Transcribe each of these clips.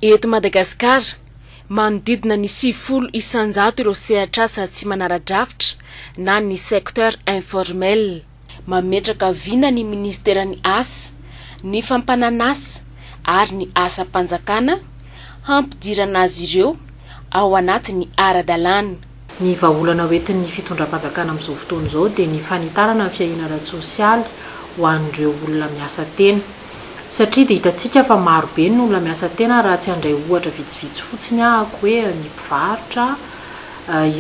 Eto Madagasikara, manodidina ny sivifolo isan-jato ireo sehatr'asa tsy manara-drafitra na ny secteur informel. Mametraka vina ny Minisiteran'ny Asa, ny Fampanan'asa ary ny Asam-panjakana hampidirana azy ireo ao anatin'ny ara-dalàna. Ny vahaolana ho entin'ny fitondram-panjakana amin'izao fotoana izao dia ny fanitarana ny fiahiana ara-tsosialy ho an'ireo olona miasa tena. Satria dia hitantsika fa marobe ny olona miasa tena raha tsy handray ohatra vitsivitsy fotsiny ahako hoe ny mpivarotra,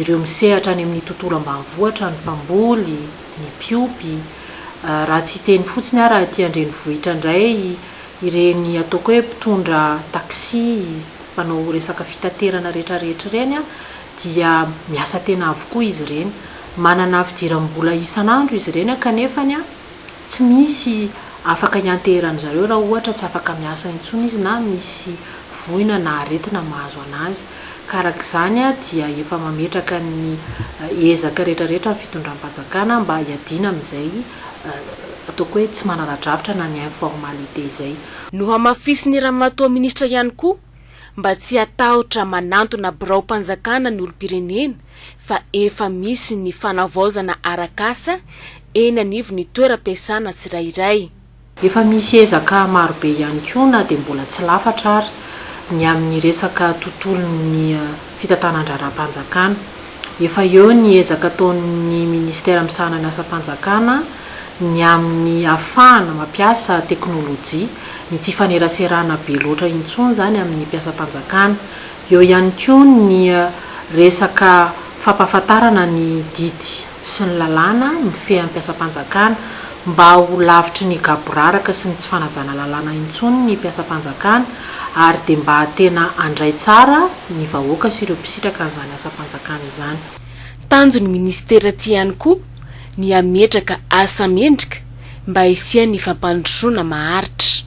ireo misehatra any amin'ny tontolo ambanivohitra, ny mpamboly, ny mpiompy, raha tsy hiteny fotsiny aho raha aty an-drenivohitra indray ireny ataoko hoe mpitondra taxi, mpanao resaka fitaterana rehetrarehetra ireny dia miasa tena avokoa izy ireny. Manana fidiram-bola isan'andro izy ireny kanefa tsy misy afaka hianteheran'ny zareo raha ohatra tsy afaka miasa intsony izy na misy voina na aretina mahazo an'azy. Ka araka izany dia efa mametraka ny ezaka rehetrarehetra ny fitondram-panjakana mba hiadiana amin'izay ataoko hoe tsy manana drafitra na ny informalite izay. Nohamafisin'ny Ramatoa Minisitra ihany koa mba tsy hatahotra manantona biraom-panjakana ny olom-pirenena fa efa misy ny fanavaozana arak'asa eny anivon'ny toeram-piasana tsirairay. Efa misy ezaka marobe ihany koa na dia mbola tsy lafatra ary ny amin'ny resaka tontolon'ny fitantanan-draharaham-panjakana. Efa eo ny ezaka ataon'ny Minisitera misahana ny asam-panjakana ny amin'ny hahafahana mampiasa teknolojia, ny tsy hifaneraserana be loatra intsony izany amin'ny mpiasam-panjakana. Eo ihany koa ny resaka fampahafantarana ny didy sy ny lalàna mifehy ampiasam-panjakana mba ho lavitry ny gaboraraka sy ny tsy fanajana lalàna intsony ny mpiasam-panjakana ary dia mba tena handray tsara ny vahoaka sy ireo mpisitraka an'izany asam-panjakana izany. Tanjon'ny minisitera ity ihany koa ny hametraka asa mendrika mba hisian'ny fampandrosoana maharitra.